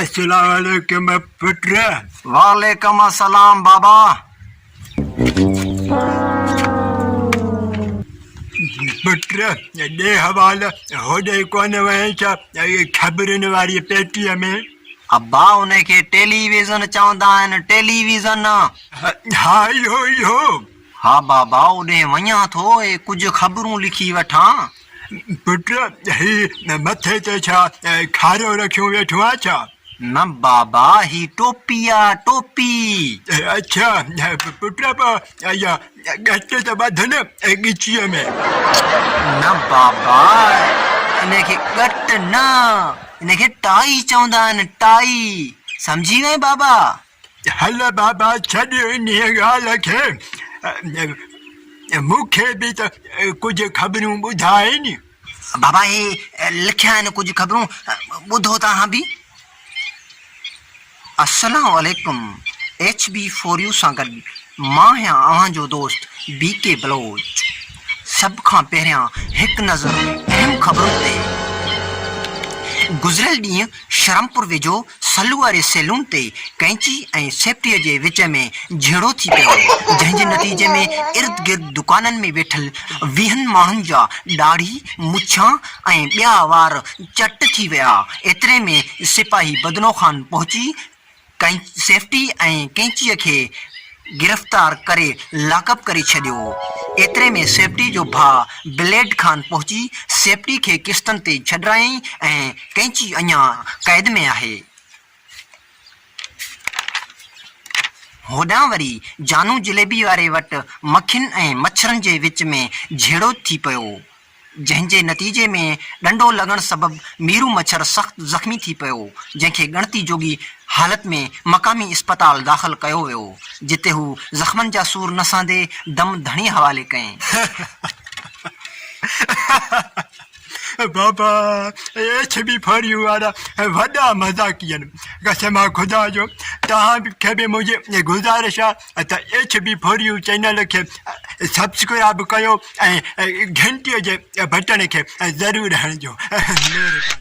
السلام عليڪم پٽ وعليڪم السلام بابا پٽ ڏي حوالو هوڏي ڪونه وئين ڇا خبرن واري پيٽيء ۾ ابا ان کي ٽيلي ويزن چوندا آهن ٽيلي ويزن ها اهو اهو ها بابا، اوڏهين وڃان ٿو ۽ ڪجهه خبرون لکي وٺان. پٽ، هي مٿي تي ڇا کاريو رکيو ويٺو آهي ڇا؟ نه بابا، هي ٽوپي آ، ٽوپي. اڇا پٽ، پوء اها ڳچ ته ٻڌ نه ڳچيء ۾. نه بابا، ان کي ڳٽ نه، ان کي ٽائي چوندا آهن، ٽائي. سمجهي وئين بابا؟ هل بابا ڇڏ انهيء ڳالهه کي، مون کي به ته ڪجهه خبرون ٻڌاء ني. بابا هي لکيا آهن ڪجهه خبرون، ٻڌو ته اهان به. السلام عليڪم ايڇ بي فور يو سان گڏ مان آهيان اوهان جو دوست بي ڪي بلوچ. سڀ کان پهريان هڪ نظر اهم خبرن تي. گذريل ڏينهن شرمپور ويجهو سلو واري سيلون تي ڪئنچي ۽ سيفٽيء جي وچ ۾ جهيڙو ٿي پيو، جنهن جي نتيجي ۾ ارد گرد دڪانن ۾ ويٺل ويهن ماڻهن جا ڏاڙهي، مڇان ۽ ٻيا وار چٽ ٿي ويا. ايتري ۾ سپاهي بدنو خان پهچي ڪنهن سيفٽي ۽ ڪينچيء کي گرفتار ڪري لاڪ اپ ڪري ڇڏيو. ايتري ۾ سيفٽي جو ڀاء بليڊ خان پهچي سيفٽي کي قسطن تي ڇڏرايائين ۽ ڪينچي اڃا قيد ۾ آهي. هوڏانهن وري جانو جليبي واري وٽ مکين ۽ مڇرن جي وچ ۾ جهيڙو ٿي پيو. جنهن جي نتيجي ۾ ڏنڊو لڳڻ سبب ميرو مڇر سخت زخمي ٿي پيو، جنهن کي ڳڻتي جوڳي حالت ۾ مقامي اسپتال داخل ڪيو ويو، جتي هو زخمن جا سور نه سهندي دم ڌڻي حوالي ڪيائين. بابا ايڇ بي ڦڙيون وارا وڏا مذاقي آهن. قسم آ خدا جو توهان کي به منهنجي گذارش آهي ته H B four U channel کي سبسڪرائب ڪيو ۽ گهنٽي جي بٽڻ کي ضرور هڻجو مهرباني